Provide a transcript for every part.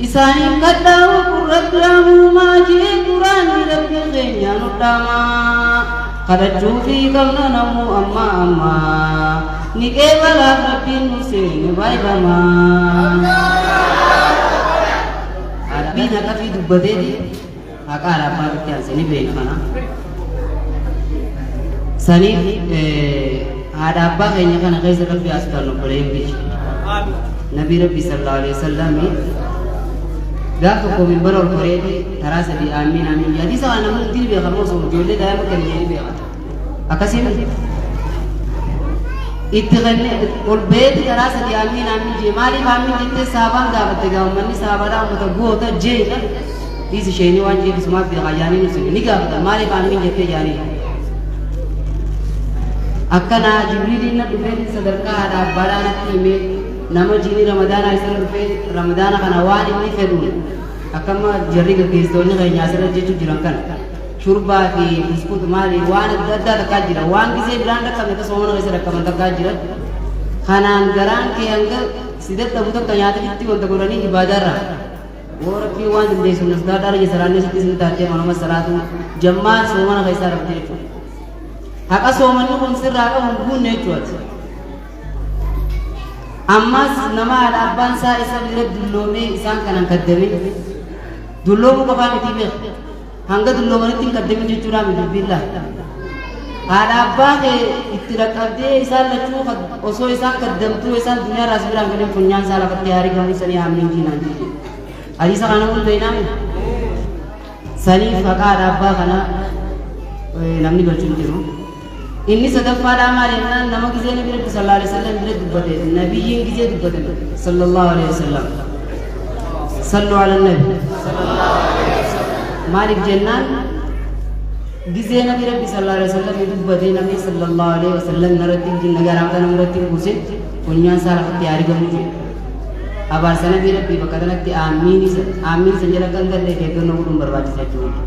Isaaniif kadhaa waqul rabbi amuumaa jee quraanii rabbi keenya nu dhaamaa kadhachuufii qabna namuu amma amma ni qeebalaaf rabbiin nu seene baay'ifamaa. Rabbiin haqafii dubbateeti. Maqaa Araaffaan itti aanse ni beekna kana. Saniif haadha abbaa keenya kana keessa rabbi haa sodaannu obboleeyyan biyya. Nabii rabbi sallallahu alaihi wasallam gaaf tokko minbara ol koreeti taraa sadii aamiin aamiin jedha. Hadiisa kana namni hundi ni beeka moo sun ijoollee daa'ima kan ni beeka. akkasii miti itti kenne ol ba'eeti karaa sadii aamiin aamiin jee maaliif aamiin jettee saabaan gaafatte gaafammanni saabaadhaa ummata goota jeedha dhiis isheenii waan jeetu sumaaf beekaa jaanii ibsine ni gaafata maaliif aamiin jettee jaanii akkanaa jibriiliin na dhufee sadarkaa haadha abbaadhaa natti himee nama jiini ramadaanaa isarra dhufee ramadaana kana waan inni fedhu akkamma jarri gaggeessitoonni keenya asirra jechuun jiran kana shurbaa fi buskuuta maali waan adda addaa takkaa jira waan gisee biraan dhaqqabne akka soomana keessa dhaqqaban takkaa jira kanaan garaan kee hanga si dadhabu takka nyaatichitti wanta godhanii ibaadaarra yoo rabbii waan dandeessu nas gaadhaara je salaannee sitti sin taatee manuma salaatu jammaa soomana keessaa rabbi jechuudha haqa soomanni kun sirraa qabu hin guunne jechuudha ammas nama haadha abbaan isaa isa bira dulloomee isaan kanan kaddame dulloomu qofaa miti beeku Hanga dulloomanitti hin qaddamin jechuudhaa miti dubbiin laa. Haadha abbaa kee itti dhaqqabdee isaan lachuu kad- osoo isaan kaddamtuu isaan duniyaa irraa si biraan galeen funyaan isaa lafatti haa rigamuu sanii haa miinjii naan jee. Hadiisa kana namoonni beeynaa miti. Saniif haqaa haadha abbaa kana eh, namni galchu hin jiru. Inni sadaffaadhaa maal jennaan nama gizee nabi rabbi sallallahu alaihi wasallam bira dubbate nabiyyiin gizee dubbatan sallallahu alaihi wasallam sallu ala nabi maaliif jennaan gizee nabi rabbi sallallahu alaihi wasallam dubbate nabi sallallahu alaihi wasallam narratti jinna garaamta namarratti hin buusin funyaan isaa lafatti yaa argamu jedhe abaarsa nabii rabbii bakka kanatti aammiin isa aammiin san jala kan galle eeggannoo godhuun barbaachisa jechuudha.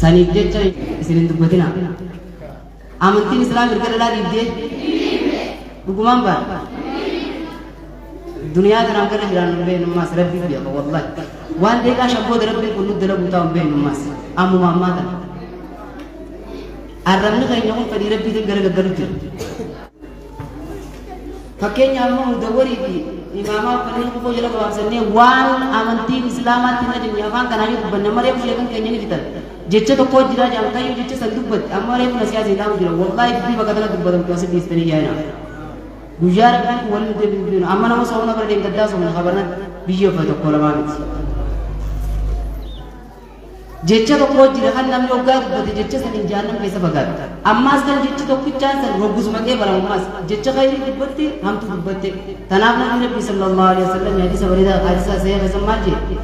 Saniif jecha isin hin dubbatina. Amantiin islaam erga dhalaa dhiibdee dhugumaan baadha. Duniyaa kanaan gara jiraan hin beeknummaas rabbiif beeka wallahi. Waan deeqaa shabbooda rabbiin kun nutti dalaguu taa'u hin beeknummaas ammuma ammaa kana. Arrabni keenya kun fedhii rabbiitiin gara gaggalu jira. Fakkeenya amma mudawwarii fi imaamaa kanneen kufoo jala gabaabsannee waan amantiin islaamaatti hin ajajne afaan kanaan yoo dubbanne amma reefu sheekan keenya ni fitan. Jecha tokko jiraa jedhan kayyuu jecha san dubbatti amma reefu na siyaasa ilaamu jira wallaahi dubbii bakka tana dubbatamtu asi dhiistanii yaa'ina. Guyyaa rabbaan kun waliin deebiin deebiin amma nama soomna bara deemgaddaa soomna habarna biyya uffata tokko lamaa miti. Jecha tokkoo jira kan namni hoggaa dubbate jecha saniin jahannam keessa fagaata. Ammaas kan jechi tokkichaan san hoggus maqee baramummaas jecha khayrii dubbatte hamtuu dubbatte. Tanaaf nabi rabbi sallallahu alaihi wasallam hadiisa bareedaa hadiisa sahih keessan maal jedhe?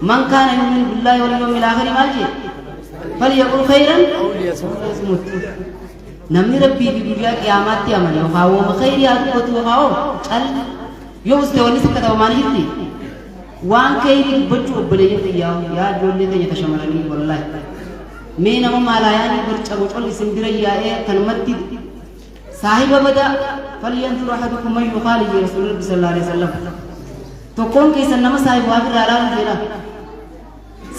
Man kaana yu'minu billahi wal yawmil akhir maal jedhe? Falyaqul khayran aw liyasmut. Namni rabbii fi guyyaa qiyaamaatti amane yookaan wooma khayrii haa dubbatu yookaan hoo calli yoo uste wanni sikkata homaan jirti. Waan keeyrii dubbachuu obboleeyyan tiyyaa yaa ijoollee teenya ta shamaranii wallahi mee nama maalaayaanii barca bocol isin bira yaa'ee akkanumatti saahiba bada falyanzur ahadukum man yuqaali jee rasuul rabbi sallallahu alaihi wasallam tokkoon keessan nama saahiba waa irraa ilaalu jedha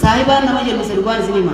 saahibaan nama jennisa dhugaan isin hima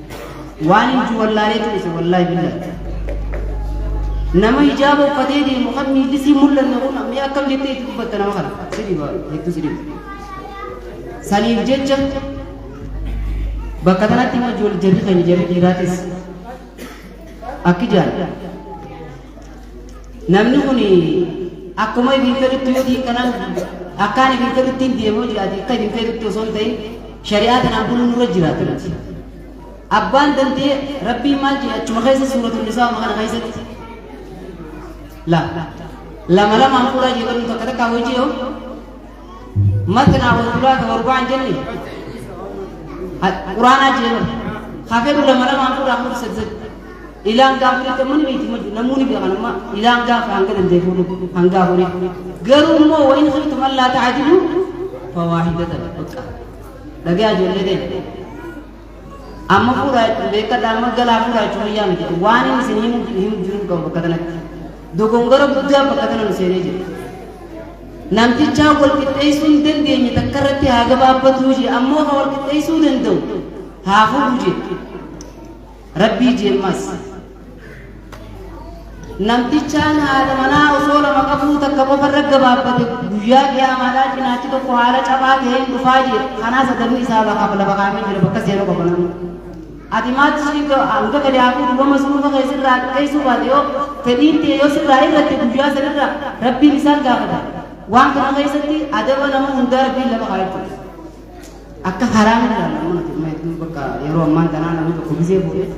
waan himtu wallaaleetu dhise wallaahi billahi nama hijaaba uffatee deemu kan miilli sii mul'anne kun mee akkam jettee itti dubbatta nama kana si dhiba hedduu si dhiba saniif jecha bakka kanatti immoo ijoollee jarri keenya jarri dhiiraatis akki jaalladha namni kun akkuma ifiin fedhutti yoo diin kanaan akkaan ifiin fedhuttiin deemoo jiraate akka ifiin fedhutti osoo hin ta'in shari'aa tanaan buluun irra jiraatu nuti. Abbaan dandee rabbiin maal jedhe achuma keessa suuratul nisaa kana keessatti la lama lamaan fuulaa jedhamu takka takkaa hojii yoo matnaa wa sulaasa wa rubaan jenne quraanaa jee mara hafeeru lama lamaan fuudhaa fuudhi sadi sadi ilaan gaafa jecha mani beekti maju namuuni beekan amma ilaan gaafa hanga danda'e fuudhu hanga afurii garuu immoo wa in khiftum allaa ta'adilu fawaahidatan bakka dhagaa ijoollee ta'e Amma fuudhaa jechuun beekadha amma galaa fuudhaa jechuun wayyaa miti. Waan inni isin himu himu jiruu qabu bakka kanatti. Dogongora guddaa bakka kana nu seenee jira. Namtichaa wal qixxeessuu hin dandeenye takka irratti haa gabaabbatuu jee ammoo kan wal qixxeessuu danda'u haa fuudhu jee. Rabbii jeemmas. Namtichaan haadha manaa osoo lama qabuu takka qofa irra gabaabbate guyyaa qiyaamaadhaa cinaachi tokko haala cabaa ta'een dhufaa jira. Kanaas adabni isaa lafaa lafa kaa'amee jira bakka seera qofa namni. Ati maatti ishee hanga gadi haafuu duuba masruufa kee sirraa xiqqeessuu baate yoo fedhiin ta'e yoo sirraa irratti guyyaa sanirra rabbiin isaan gaafata. Waan kana keessatti adaba nama hundaa rabbiin lafa kaa'achuu. Akka haraam irraa namoonni bakka yeroo ammaan tanaa namni tokko gisee fuudhee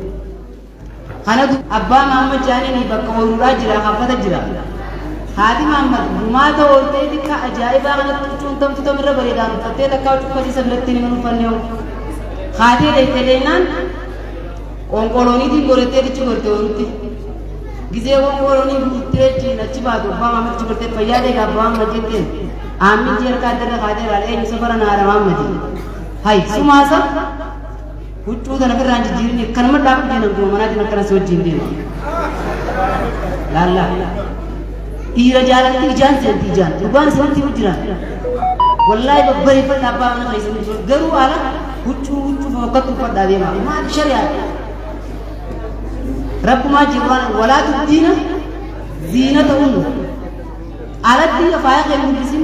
Kanatu abbaa Mahammad Jaanini bakka ooluudhaa jira haaffata jira. Haati Mahammad gumaata ooltee xiqqaa ajaa'ibaa kanatti huccuun tamtu tamirra bareedaan uffattee takkaa cuffatii isa biratti hin uffanne hoo. Kaatee deettee deennaan qonqolooniitiin gorettee dichi gorte oolutti. Gizee qonqoloonii guuttee ittiin achi baatu abbaa Mahammad achi gortee fayyaa deega abbaa Mahammad jetteen. Aammichi harka addarra kaatee irraa eenyu safara naara Mahammadi. Hay sumaasa Huccuu tana firraa hin jijjiirin akkanuma dhaabdu jeen abduma manaatiin akkana si wajjin deema. Laalla. Dhiira jaalalti ijaan seenti ijaan. Gurbaan isinitti hin jiran. Wallaahi babbareeffadha abbaa mana keessan ibsu. Garuu ala huccuu huccuu fokkattu uffadhaa deema. Maal shari'aa? Rabbumaa jiru waan walaa tubdiina ziina ta'uun alatti faaya kee mul'isin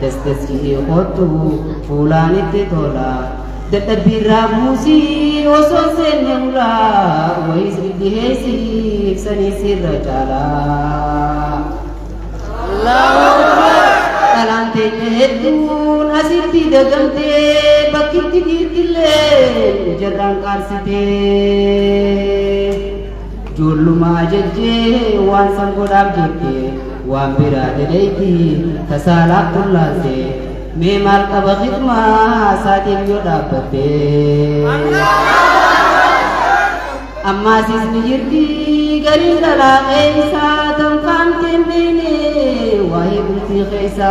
Das das jedhee kottu fuulaan itti tola. Dadhabbiirraa buusii osoo seenne ulaa wayiis dhidhiheessiif saniis irra caalaa. Dhalaan teenya hedduun asitti dagamtee bakkitti dhiirtillee jarraan qaarsitee. Joollumaa jajjee waan san godhaaf jette waan biraa daleeyti ta saalaaf tullaalte mee maal qaba khidmaa saatiif yoo dhaabbatte. Ammaas isni jirti gariin dhalaa keessa tanfaamteen beene waa'ee bultii keessa.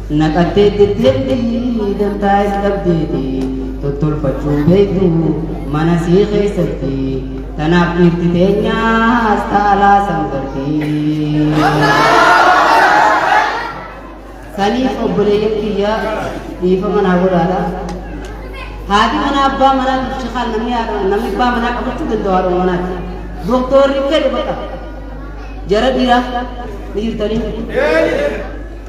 Naqattee jetteetti dantaa is dhabdeeti tottolfachuu beektu mana sii keessatti tanaaf dhiirti teenyaas taalaa san garti. Saniif obboleeyyan kiyya dhiifama naa godhaadha. Haati manaa abbaa manaa shakaan namni haadha- namni abbaa manaa qabachuu danda'u haadha manaati. Doktoorri fedhe bakka jara dhiiraa ni jirtanii.